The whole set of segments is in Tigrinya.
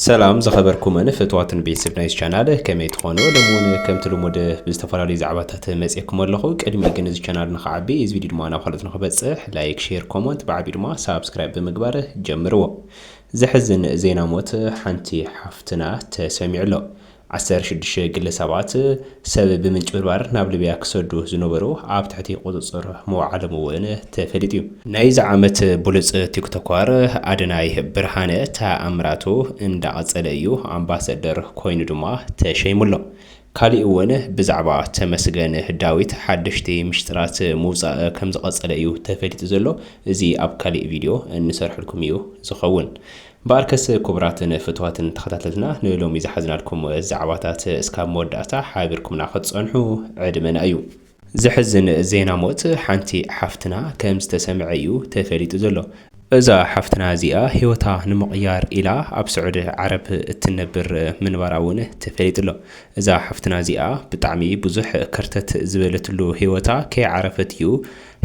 ሰላም ዝኸበርኩምን ፍትዋትን ቤተሰብ ናይዚ ቻናል ከመይ ትኾኑ ሎሚ እውን ከምቲ ልሙድ ብዝተፈላለዩ ዛዕባታት መፅየኩም ኣለኹ ቅድሚ ግን እዚ ቻናል ንክዓቢ እዚ ቪድዮ ድማ ናብ ካልኦት ንክበፅሕ ላይክ ሼር ኮመንት ብዓብዩ ድማ ሳብስክራይብ ብምግባር ጀምርዎ ዘሕዝን ዜና ሞት ሓንቲ ሓፍትና ተሰሚዑ ኣሎ ዓሰርተ ሽዱሽተ ግለ ሰባት ሰብ ብምጭብርባር ናብ ሊብያ ክሰዱ ዝነበሩ ኣብ ትሕቲ ቁፅፅር ምውዓሎም እውን ተፈሊጡ እዩ። ናይዚ ዓመት ብሉፅ ቲክቶኳር ኣደናይ ብርሃነ ተኣምራቱ እንዳቐፀለ እዩ፣ ኣምባሰደር ኮይኑ ድማ ተሸይሙ ኣሎ። ካሊእ እውን ብዛዕባ ተመስገን ዳዊት ሓደሽቲ ሚሽጥራት ምውፃእ ከምዝቐፀለ እዩ ተፈሊጡ ዘሎ፣ እዚ ኣብ ካሊእ ቪድዮ እንሰርሐልኩም እዩ ዝኸውን። እምበኣርከስ ኩቡራትን ፍትዋትን ተኸታተልትና ንሎሚ ዝሓዝናልኩም ዛዕባታት እስካብ መወዳእታ ሓቢርኩምና ክትጸንሑ ዕድመና እዩ። ዘሕዝን ዜና ሞት ሓንቲ ሓፍትና ከም ዝተሰምዐ እዩ ተፈሊጡ ዘሎ። እዛ ሓፍትና እዚኣ ህይወታ ንምቕያር ኢላ ኣብ ስዑዲ ዓረብ እትነብር ምንባራ እውን ተፈሊጡ ኣሎ። እዛ ሓፍትና እዚኣ ብጣዕሚ ብዙሕ ከርተት ዝበለትሉ ህይወታ ከይዓረፈት እዩ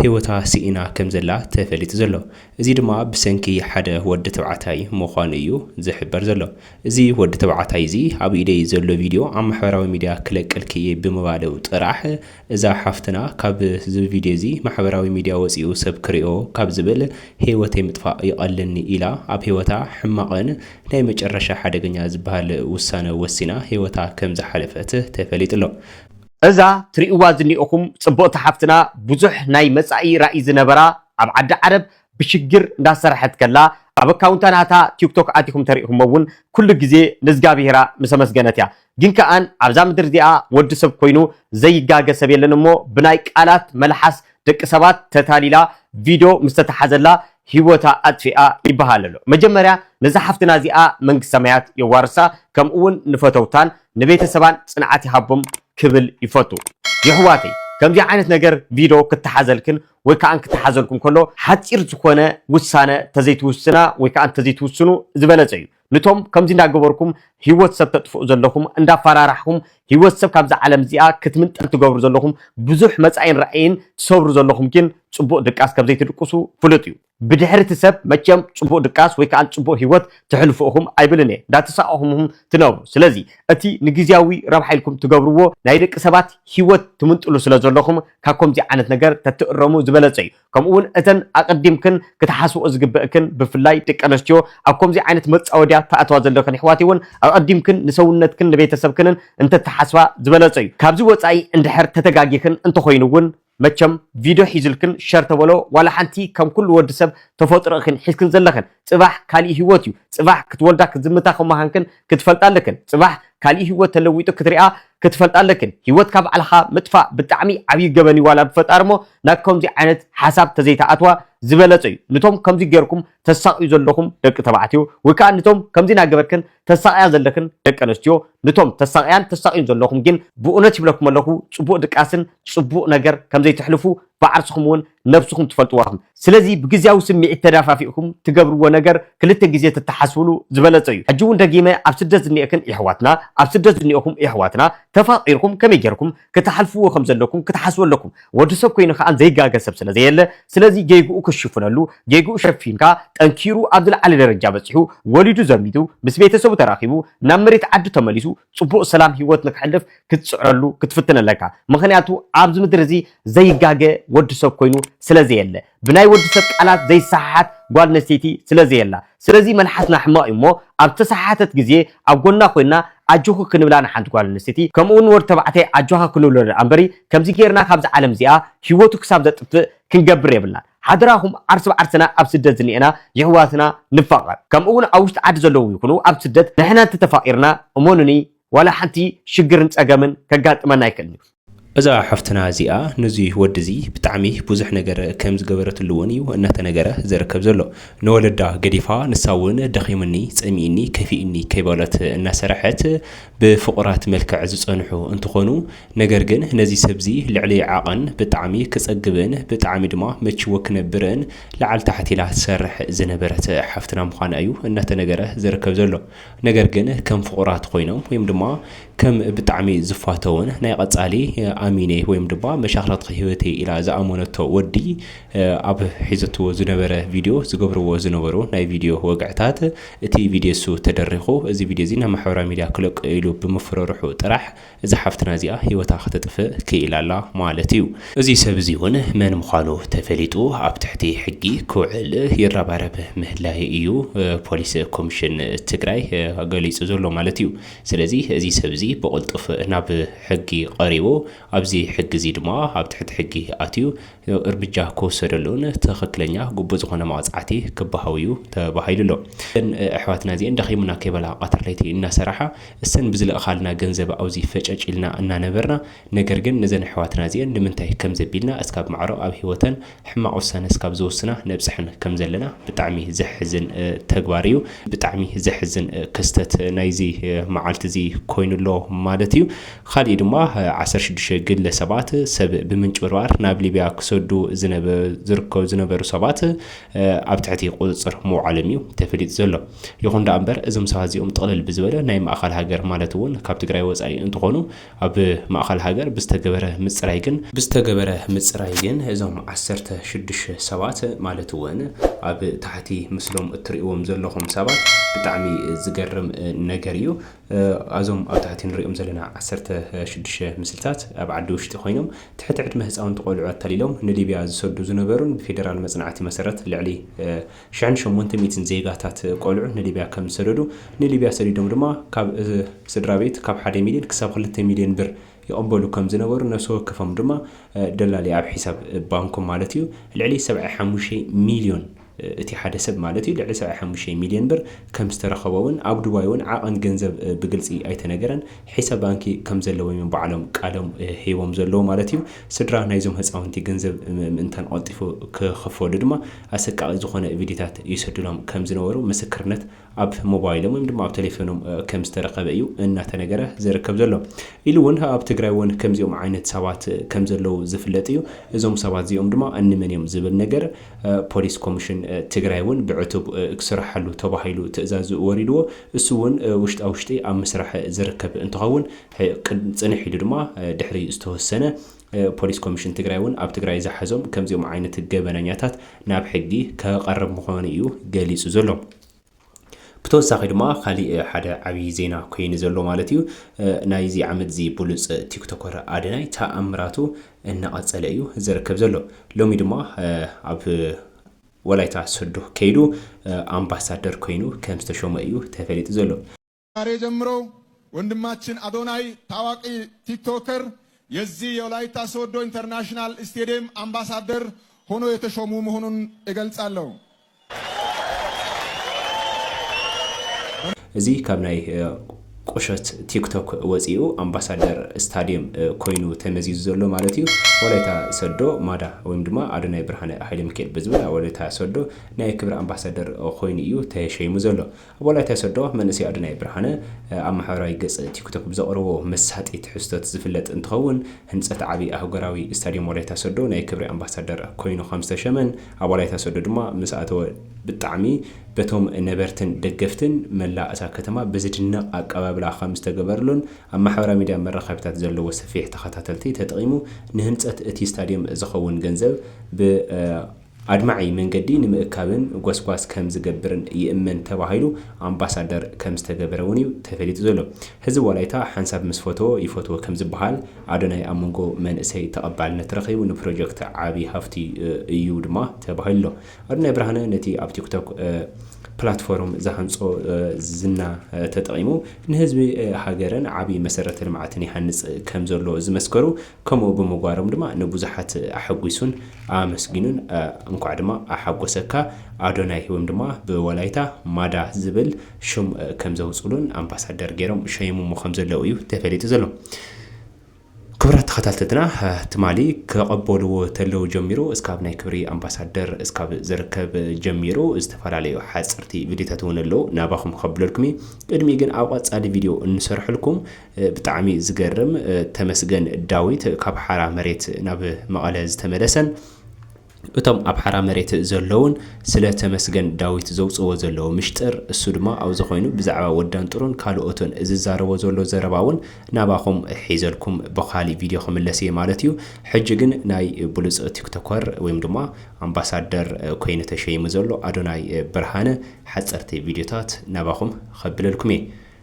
ህይወታ ስኢና ከም ዘላ ተፈሊጡ ዘሎ። እዚ ድማ ብሰንኪ ሓደ ወዲ ተባዕታይ ምዃኑ እዩ ዝሕበር ዘሎ። እዚ ወዲ ተባዕታይ እዚ ኣብ ኢደይ ዘሎ ቪድዮ ኣብ ማሕበራዊ ሚድያ ክለቀልኪ እየ ብምባሉ ጥራሕ እዛ ሓፍትና ካብ ዝብ ቪድዮ እዚ ማሕበራዊ ሚድያ ወፂኡ ሰብ ክሪኦ ካብ ዝብል ህይወተይ ምጥፋእ ይቐለኒ ኢላ ኣብ ህይወታ ሕማቕን ናይ መጨረሻ ሓደገኛ ዝብሃል ውሳነ ወሲና ህይወታ ከም ዝሓለፈት ተፈሊጡ ኣሎ። እዛ ትሪእዋ ዝኒእኹም ፅብቕቲ ሓፍትና ብዙሕ ናይ መፃኢ ራኢ ዝነበራ ኣብ ዓዲ ዓረብ ብሽግር እንዳሰረሐት ከላ ኣብ ኣካውንታ ናታ ቲክቶክ ኣቲኩም ተሪኢኩሞ ውን ኩሉ ግዜ ንዝጋብሄራ ምስ ኣመስገነት እያ ግን ከኣን ኣብዛ ምድሪ እዚኣ ወዲ ሰብ ኮይኑ ዘይጋገ ሰብ የለን እሞ ብናይ ቃላት መልሓስ ደቂ ሰባት ተታሊላ ቪዶ ምስ ተታሓዘላ ሂወታ ኣጥፊኣ ይበሃል ኣሎ መጀመርያ ነዛ ሓፍትና እዚኣ መንግስት ሰማያት የዋርሳ ከምኡ ውን ንፈተውታን ንቤተሰባን ጽንዓት ይሃቦም ክብል ይፈቱ የሕዋተይ ከምዚ ዓይነት ነገር ቪዶ ክታሓዘልክን ወይ ከኣ ክተሓዘልኩም ከሎ ሓጺር ዝኾነ ውሳነ ተዘይትውስና ወይ ከኣ እንተዘይትውስኑ ዝበለጸ እዩ። ንቶም ከምዚ እንዳገበርኩም ሂወት ሰብ ተጥፍኡ ዘለኹም እንዳፋራራሕኹም ሂወት ሰብ ካብዛ ዓለም እዚኣ ክትምንጠል ትገብሩ ዘለኹም ብዙሕ መጻኢን ራኢን ትሰብሩ ዘለኹም ግን ጽቡቅ ድቃስ ከምዘይትድቅሱ ፍሉጥ እዩ። ብድሕሪ እቲ ሰብ መቸም ጽቡቅ ድቃስ ወይ ከኣ ጽቡቅ ሂወት ተሕልፉ ኢኹም ኣይብልን እየ እንዳተሳቀኹም ኢኹም ትነብሩ ስለዚ እቲ ንግዝያዊ ረብሓ ኢልኩም ትገብርዎ ናይ ደቂ ሰባት ሂወት ትምንጥሉ ስለ ዘለኹም ካብ ከምዚ ዓይነት ነገር ተትእረሙ ዝበለጸ እዩ ከምኡ ውን እተን ኣቀዲምክን ክትሓስብኦ ዝግበእክን ብፍላይ ደቂ ኣነስትዮ ኣብ ከምዚ ዓይነት መጻወድያ ትኣትዋ ዘለኽን የሕዋተይ ውን ኣቀዲምክን ንሰውነትክን ንቤተሰብክንን እንተትሓስባ ዝበለጸ እዩ ካብዚ ወጻኢ እንድሕር ተተጋጊኽን እንተኾይኑ ውን መቸም ቪድዮ ሒዝልክን ሸር ተበሎ ዋላ ሓንቲ ከም ኩሉ ወዲ ሰብ ተፈጥሮ ኢኽን ሒዝክን ዘለኽን ጽባሕ ካሊእ ሂወት እዩ ጽባሕ ክትወልዳ ክትዝምታ ከም ምኻንክን ክትፈልጣ ኣለክን ጽባሕ ካሊእ ሂወት ተለዊጡ ክትሪኣ ክትፈልጣ ኣለክን ሂወትካ ባዕልኻ ምጥፋእ ብጣዕሚ ዓብይ ገበን እዩ ዋላ ብፈጣሪ እሞ ናብ ከምዙይ ዓይነት ሓሳብ ተዘይትኣትዋ ዝበለጸ እዩ ንቶም ከምዙይ ገርኩም ተሳቅዩ ዘለኹም ደቂ ተባዕትዮ ወይ ካኣ ንቶም ከምዙይ ናገበርክን ተሳቕያ ዘለክን ደቂ ኣነስትዮ ንቶም ተሳቕያን ተሳቕዩን ዘለኹም ግን ብኡነት ይብለኩም ኣለኹ ጽቡቕ ድቃስን ጽቡቕ ነገር ከም ዘይተሕልፉ ብዓርስኹም ውን ነብስኹም ትፈልጥዋ ኢኹም ስለዚ ብግዝያዊ ስሚዒት ተዳፋፊእኩም ትገብርዎ ነገር ክልተ ግዜ ተተሓስብሉ ዝበለጸ እዩ ሕጂ ውን ደጊመ ኣብ ስደት ዝኔኤክን የሕዋትና ኣብ ስደት ዝኔኤኹም የሕዋትና ተፋቂርኩም ከመይ ጌርኩም ክትሓልፍዎ ከም ዘለኩም ክትሓስቡ ኣለኩም ወዲ ሰብ ኮይኑ ከኣ ዘይጋገ ሰብ ስለ ዘየለ ስለዚ ጌግኡ ክትሽፍነሉ ጌግኡ ሸፊንካ ጠንኪሩ ኣብ ዝለዓለ ደረጃ በጺሑ ወሊዱ ዘሚቱ ምስ ቤተሰቡ ተራኪቡ ናብ መሬት ዓዱ ተመሊሱ ጽቡቅ ሰላም ሂወት ንክሕልፍ ክትጽዕረሉ ክትፍትን ኣለካ ምክንያቱ ኣብዚ ምድሪ እዚ ዘይጋገ ወዲ ሰብ ኮይኑ ስለ ዘየለ ብናይ ወዲ ሰብ ቃላት ዘይሰሓሓት ጓል ኣነስተይቲ ስለ ዘየላ። ስለዚ መልሓስና ሕማቕ እዩ እሞ ኣብ ዝተሰሓሓተት ግዜ ኣብ ጎና ኮይንና ኣጆኺ ክንብላ ንሓንቲ ጓል ኣነስተይቲ ከምኡ ውን ወዲ ተባዕታይ ኣጆኻ ክንብሎ ደኣ እምበሪ ከምዚ ጌርና ካብዛ ዓለም እዚኣ ሂወቱ ክሳብ ዘጥፍእ ክንገብር የብልናን። ሓደራኹም ዓርሲ ብዓርስና ኣብ ስደት ዝንኤና የሕዋትና ንፋቐር ከምኡ ውን ኣብ ውሽጢ ዓዲ ዘለዉ ይኹኑ ኣብ ስደት ንሕና እንተ ተፋቒርና እመኑኒ ዋላ ሓንቲ ሽግርን ጸገምን ከጋጥመና ኣይክእልን እዩ። እዛ ሓፍትና እዚኣ ንዚ ወዲ እዚ ብጣዕሚ ቡዙሕ ነገር ከም ዝገበረትሉ ውን እዩ እናተነገረ ዝርከብ ዘሎ። ንወለዳ ገዲፋ ንሳ ውን ደኺሙኒ ጸሚኡኒ ከፊኡኒ ከይበሎት እናሰረሐት ብፍቑራት መልክዕ ዝጸንሑ እንትኾኑ ነገር ግን ነዚ ሰብ እዚ ልዕሊ ዓቐን ብጣዕሚ ክጸግብን ብጣዕሚ ድማ መቺዎ ክነብርን ላዕሊ ታሕቲ ኢላ ትሰርሕ ዝነበረት ሓፍትና ምዃና እዩ እናተነገረ ዝርከብ ዘሎ። ነገር ግን ከም ፍቑራት ኮይኖም ወይም ድማ ከም ብጣዕሚ ዝፋተውን ናይ ቐጻሊ ኣሚነይ ወይም ድማ መሻኽረትኺ ህይወተይ ኢላ ዝኣመነቶ ወዲ ኣብ ሒዘትዎ ዝነበረ ቪድዮ ዝገብርዎ ዝነበሩ ናይ ቪድዮ ወግዕታት እቲ ቪድዮ እሱ ተደሪኹ እዚ ቪድዮ እዚ ናብ ማሕበራዊ ሚድያ ክለቅዮ ኢሉ ብምፍርርሑ ጥራሕ እዛ ሓፍትና እዚኣ ህይወታ ከተጥፍእ ክኢላ ኣላ ማለት እዩ። እዚ ሰብ እዚ እውን መን ምዃኑ ተፈሊጡ ኣብ ትሕቲ ሕጊ ክውዕል ይረባረብ ምህላዩ እዩ ፖሊስ ኮሚሽን ትግራይ ገሊፁ ዘሎ ማለት እዩ። ስለዚ እዚ ሰብ እዚ ብቕልጡፍ ናብ ሕጊ ቐሪቡ ኣብዚ ሕጊ እዚ ድማ ኣብ ትሕቲ ሕጊ ኣትዩ እርምጃ ክውሰደሉን ትኽክለኛ ግቡእ ዝኾነ መቕፃዕቲ ክበሃው እዩ ተባሂሉ ኣሎ። እዘን ኣሕዋትና እዚኤን ደኺሙና ከይበላ ቐትሪ ለይቲ እናሰራሓ እሰን ብዝለእኻልና ገንዘብ ኣብዚ ፈጨጭ ኢልና እናነበርና ነገር ግን ነዘን ኣሕዋትና እዚኤን ንምንታይ ከምዘቢልና እስካብ ማዕሮ ኣብ ሂወተን ሕማቕ ውሳነ እስካብ ዝወስና ነብፀሐን ከምዘለና ብጣዕሚ ዘሕዝን ተግባር እዩ። ብጣዕሚ ዘሕዝን ክስተት ናይዚ መዓልቲ እዚ ኮይኑ ኣሎ ማለት እዩ። ኻሊእ ድማ ዓሰርተ ሽዱሽተ ግለ ሰባት ሰብ ብምንጭብርባር ናብ ሊብያ ክሰዱ ዝርከቡ ዝነበሩ ሰባት ኣብ ትሕቲ ቁፅፅር ምውዓሎም እዩ ተፈሊጡ ዘሎ። ይኹን ደኣ እምበር እዞም ሰባት እዚኦም ጥቕልል ብዝበለ ናይ ማእኸል ሃገር ማለት እውን ካብ ትግራይ ወፃኢ እንትኾኑ ኣብ ማእኸል ሃገር ብዝተገበረ ምፅራይ ግን ብዝተገበረ ምፅራይ ግን እዞም ዓሰርተ ሽዱሽተ ሰባት ማለት እውን ኣብ ታሕቲ ምስሎም እትሪእዎም ዘለኹም ሰባት ብጣዕሚ ዝገርም ነገር እዩ። ኣዞም ኣብ ታሕቲ ንሪኦም ዘለና ዓሰርተ ሽዱሽተ ምስልታት ኣብ ዓዲ ውሽጢ ኮይኖም ትሕቲ ዕድመ ህፃውንቲ ቆልዑ ኣታሊሎም ንሊብያ ዝሰዱ ዝነበሩን ብፌደራል መፅናዕቲ መሰረት ልዕሊ ሽሕን ሸሞንተ ሚእትን ዜጋታት ቆልዑ ንሊብያ ከም ዝሰደዱ ንሊብያ ሰዲዶም ድማ ካብ ስድራቤት ካብ ሓደ ሚልዮን ክሳብ ክልተ ሚልዮን ብር ይቕበሉ ከም ዝነበሩ ነብሲ ወከፎም ድማ ደላሊ ኣብ ሒሳብ ባንኮም ማለት እዩ ልዕሊ ሰብዐ ሓሙሽተ ሚልዮን እቲ ሓደ ሰብ ማለት እዩ ልዕሊ ሰብዓይ ሓሙሽተ ሚልዮን ብር ከም ዝተረኸቦ'ውን ኣብ ዱባይ እውን ዓቐን ገንዘብ ብግልፂ ኣይተነገረን። ሒሳብ ባንኪ ከም ዘለዎም እዮም ባዕሎም ቃሎም ሂቦም ዘለዉ ማለት እዩ። ስድራ ናይዞም ህፃውንቲ ገንዘብ ምእንታን ቐልጢፉ ክኽፈሉ ድማ ኣሰቃቒ ዝኾነ ቪድዮታት ይሰዱሎም ከም ዝነበሩ ምስክርነት ኣብ ሞባይሎም ወይም ድማ ኣብ ተሌፈኖም ከም ዝተረኸበ እዩ እናተነገረ ዝርከብ ዘሎ። ኢሉ እውን ኣብ ትግራይ እውን ከምዚኦም ዓይነት ሰባት ከም ዘለዉ ዝፍለጥ እዩ። እዞም ሰባት እዚኦም ድማ እንመን እዮም ዝብል ነገር ፖሊስ ኮሚሽን ትግራይ እውን ብዕቱብ ክስርሓሉ ተባሂሉ ትእዛዝ ወሪድዎ። እሱ እውን ውሽጣ ውሽጢ ኣብ ምስራሕ ዝርከብ እንትኸውን ፅንሕ ኢሉ ድማ ድሕሪ ዝተወሰነ ፖሊስ ኮሚሽን ትግራይ እውን ኣብ ትግራይ ዝሓዞም ከምዚኦም ዓይነት ገበነኛታት ናብ ሕጊ ከቐርብ ምዃኑ እዩ ገሊፁ ዘሎ። ብተወሳኺ ድማ ካሊእ ሓደ ዓብዪ ዜና ኮይኑ ዘሎ ማለት እዩ ናይዚ ዓመት እዚ ብሉፅ ቲክቶከር ኣደናይ ተኣምራቱ እናቐፀለ እዩ ዝርከብ ዘሎ። ሎሚ ድማ ኣብ ወላይታ ሶዶ ከይዱ ኣምባሳደር ኮይኑ ከም ዝተሾመ እዩ ተፈሊጡ ዘሎ። ዛሬ ጀምሮ ወንድማችን አዶናይ ታዋቂ ቲክቶከር የዚህ የወላይታ ሶዶ ኢንተርናሽናል ስቴዲየም አምባሳደር ሆኖ የተሾሙ መሆኑን እገልጻለሁ። እዚ ካብ ናይ ቁሸት ቲክቶክ ወፂኡ ኣምባሳደር ስታዲየም ኮይኑ ተመዚዙ ዘሎ ማለት እዩ። ወላይታ ሰዶ ማዳ ወይም ድማ ኣዶናይ ብርሃነ ሃይለሚካኤል ብዝብል ኣብ ወላይታ ሰዶ ናይ ክብሪ ኣምባሳደር ኮይኑ እዩ ተሸይሙ ዘሎ። ኣብ ወላይታ ሶዶ መንእሰይ ኣዶናይ ብርሃነ ኣብ ማሕበራዊ ገፅ ቲክቶክ ብዘቕረቦ መሳጢ ትሕዝቶት ዝፍለጥ እንትኸውን ህንፀት ዓብይ ኣህጉራዊ ስታዲየም ወላይታ ሶዶ ናይ ክብሪ ኣምባሳደር ኮይኑ ከምዝተሸመን ኣብ ወላይታ ሶዶ ድማ ምስኣተወ ብጣዕሚ በቶም ነበርትን ደገፍትን መላእ እታ ከተማ ብዝድነቕ ኣቀባብላ ከምዝተገበርሉን ኣብ ማሕበራዊ ሚዲያ መራኸቢታት ዘለዎ ሰፊሕ ተኸታተልቲ ተጠቒሙ ንህንፀት እቲ ስታዲየም ዝኸውን ገንዘብ ብ ኣድማዒ መንገዲ ንምእካብን ጎስጓስ ከም ዝገብርን ይእመን ተባሂሉ ኣምባሳደር ከም ዝተገበረ እውን እዩ ተፈሊጡ ዘሎ። ህዝቢ ወላይታ ሓንሳብ ምስ ፈተዎ ይፈትዎ ከም ዝበሃል ኣዶናይ ኣብ መንጎ መንእሰይ ተቐባልነት ረኺቡ ንፕሮጀክት ዓቢ ሃፍቲ እዩ ድማ ተባሂሉ ኣሎ። ኣዶናይ ብርሃነ ነቲ ኣብ ቲክቶክ ፕላትፎርም ዝሃንጾ ዝና ተጠቒሙ ንህዝቢ ሃገርን ዓቢ መሰረተ ልምዓትን ይሃንጽ ከም ዘሎ ዝመስከሩ ከምኡ ብምግባሮም ድማ ንብዙሓት ኣሐጒሱን ኣመስጊኑን። እንኳዕ ድማ ኣሓጎሰካ ኣዶናይ ወይም ድማ ብወላይታ ማዳ ዝብል ሽም ከም ዘውፅሉን ኣምባሳደር ገይሮም ሸይሞሞ ከም ዘለዉ እዩ ተፈሊጡ ዘሎ። ክብራት ተኸታተልትና ትማሊ ከቐበልዎ ተለው ጀሚሩ እስካብ ናይ ክብሪ ኣምባሳደር እስካብ ዝርከብ ጀሚሩ ዝተፈላለዩ ሓፅርቲ ቪድዮታት እውን ኣለዉ ናባኹም ከብለልኩም እዩ። ቅድሚ ግን ኣብ ቐፃሊ ቪድዮ እንሰርሐልኩም ብጣዕሚ ዝገርም ተመስገን ዳዊት ካብ ሓራ መሬት ናብ መቐለ ዝተመለሰን እቶም ኣብ ሓራ መሬት ዘለውን ስለ ተመስገን ዳዊት ዘውፅዎ ዘለዎ ምሽጥር እሱ ድማ ኣብዚ ኮይኑ ብዛዕባ ወዳንጥሩን ካልኦትን ዝዛረቦ ዘሎ ዘረባ እውን ናባኹም ሒዘልኩም ብካሊእ ቪድዮ ክምለስ እየ ማለት እዩ ሕጂ ግን ናይ ብሉፅ ቲክቶከር ወይም ድማ ኣምባሳደር ኮይኑ ተሸይሙ ዘሎ ኣዶናይ ብርሃነ ሓፀርቲ ቪድዮታት ናባኹም ከብለልኩም እየ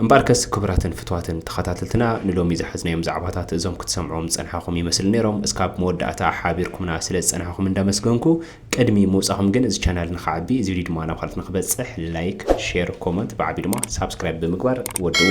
እምበኣርከስ ክቡራትን ፍትዋትን ተኸታተልትና ንሎሚ ዝሓዝናዮም ዛዕባታት እዞም ክትሰምዕዎም ዝጸንሓኹም ይመስል ነይሮም እስካብ መወዳእታ ሓቢርኩምና ስለ ዝጸንሓኹም እንዳመስገንኩ ቅድሚ ምውጻኹም ግን እዚ ቻናል ንኽዓቢ እዚ ቪድዮ ድማ ናብ ካልኦት ንኽበጽሕ ላይክ ሼር ኮመንት ብዓቢ ድማ ሳብስክራይብ ብምግባር ወድዎ